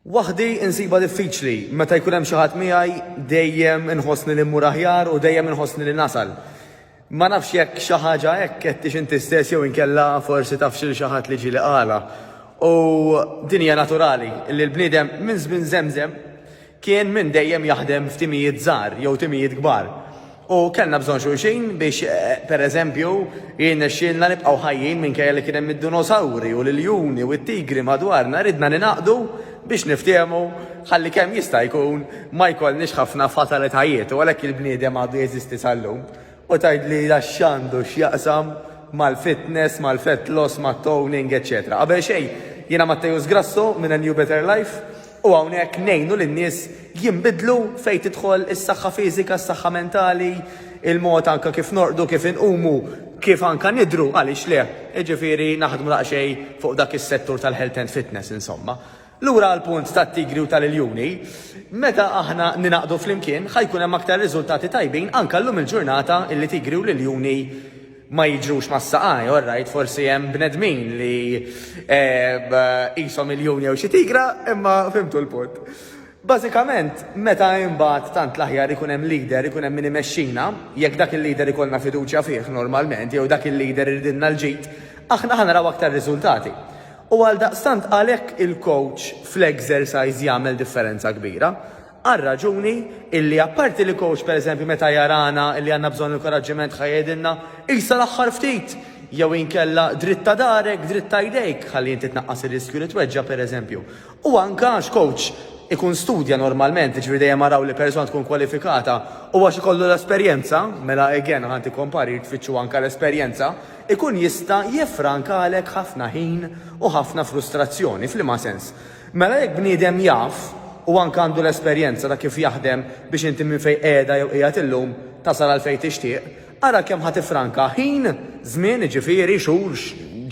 Waħdi insibha diffiċli, meta jkun hemm xi ħadd miegħi dejjem inħossni li mmur aħjar u dejjem inħossni li nasal. Ma nafx jekk xi ħaġa hekk għedtiex inti stess jew inkella forsi tafx lil xi ħadd li ġieli qalha. U din hija naturali li l-bniedem minn żmien żemżem Kien minn dejjem jaħdem f'timijiet żgħar jew timijiet kbar u kellna bżonn xulxin biex, per eżempju, jirnexxielna nibqgħu ħajjin minkejja li kien hemm id-dunosawri u l-iljuni u t-tigri madwarna, ridna ningħaqdu biex niftehmu ħalli kemm jista' jkun ma jkollniex ħafna fatalitajiet u għalhekk il-bniedem għadu jeżisti sal-lum. U tgħidlilha x'għandu x'jaqsam mal-fitness, mal-fat loss, mat-toning, eċċetera. Qabel xejn, jiena Matteus Grasso minn A New Better Life u hawnhekk ngħinu lin-nies jinbidlu fejn tidħol is-saħħa fiżika, s-saħħa mentali, il-mod anke kif norqdu, kif inqumu, kif anke nidhru, għaliex le? Jiġifieri naħdmu daqsxejn fuq dak is-settur tal-health and fitness insomma. Lura għall-punt tat-tigri u tal-iljuni, meta aħna ningħaqdu flimkien, ħa jkun hemm aktar riżultati tajbin anke llum il-ġurnata illi tigri u l-iljuni ma jiġrux mas-saqajn, orrajt forsi hemm bnedmin li qishom iljun jew xi tigra imma fhimtu l-punt. Bażikament, meta imbagħad tant l-aħjar ikun hemm leader, ikun hemm min imexxina, jekk dak il-leader ikollna fiduċja fih normalment jew dak il-leader iridilna l-ġid, aħna ħa naraw aktar riżultati. U għaldaqstant għalhekk il-kowċ fl-exercise jagħmel differenza kbira. Għar-raġuni illi apparti li kowċ pereżempju meta jarana illi għandna bżonn inkoraġġiment ħa jgħidilna, Qisha l-aħħar ftit! jew inkella Dritta darek, dritta jdejk ħalli inti tnaqqas ir-riskju li tweġġa' pereżempju. U anke għax kowċ ikun studja normalment, jiġifieri dejjem araw li persuna tkun kwalifikata u għax ikollu l-esperjenza, mela again aħna ntikom parir tfittxu anke l-esperjenza, ikun jista' jiffrankalek ħafna ħin u ħafna frustrazzjoni. F'liema sens? Mela jekk bniedem jaf u anke għandu l-esperjenza ta' kif jaħdem biex inti minn fejn qiegħda jew qiegħed illum tasal għal fejn tixtieq, ara kemm ħa tiffranka ħin, żmien jiġifieri, xhur,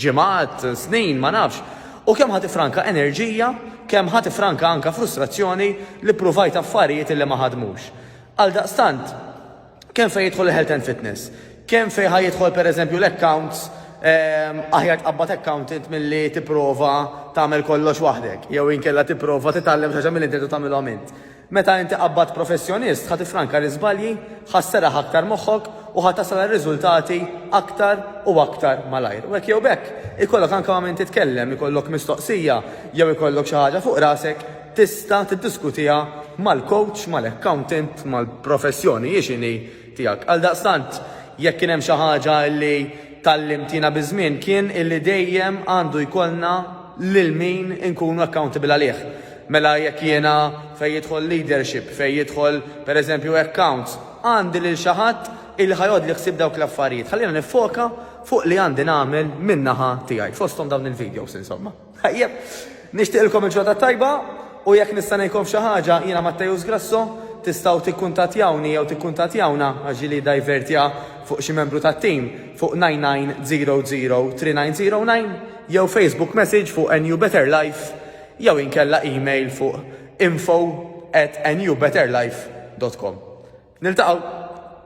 ġimgħat, snin, ma nafx, u kemm ħa tiffranka enerġija, kemm ħa tiffranka anke frustrazzjoni li ppruvajt affarijiet li ma ħadmux. Għaldaqstant. Kemm fejn jidħol il-health and fitness? Kemm fejn ħa jidħol pereżempju l-accounts ehm, aħjar tqabbad accountant milli tipprova tagħmel kollox waħdek, jew inkella tipprova titgħallem xi milli inti tagħmilhom int. Meta inti qabbad professjonist, ħa tifranka l-iżbalji, ħa sserraħ aktar moħħok u ħa tasal riżultati aktar u aktar malajr. U hekk jew bekk, ikollok anke ma' min titkellem, ikollok mistoqsija jew ikollok xi ħaġa fuq rasek tista' tiddiskutiha mal-kowċ, mal-accountant, mal-professjoni, hi x'inhi, tiegħek. Għaldaqstant, jekk kien hemm xi ħaġa li tgħallimt jiena biż-żmien kien illi dejjem għandu jkollna lil min inkunu accountable għalih. Mela jekk jiena fejn jidħol leadership, fejn jidħol pereżempju accounts, għandi lil xi ħadd illi ħa jgħoddli ħsieb dawk l-affarijiet. Ħalliena niffoka fuq li għandi nagħmel min-naħa tiegħi, fosthom dawn il-videos insomma. Tajjeb, nixtieqilkom il-Ġodda t-Tajba u jekk nista' ngħinkom f'xi ħaġa, jiena Matteus Grasso, tistgħu tikkuntattjawni jew tikkuntattjawna, għax ġieli iddivertja fuq xi membru tat-tim, fuq 99003909 jew Facebook message fuq NUBetterLife jew inkella email fuq info@nubetterlife.com. Niltaqgħu!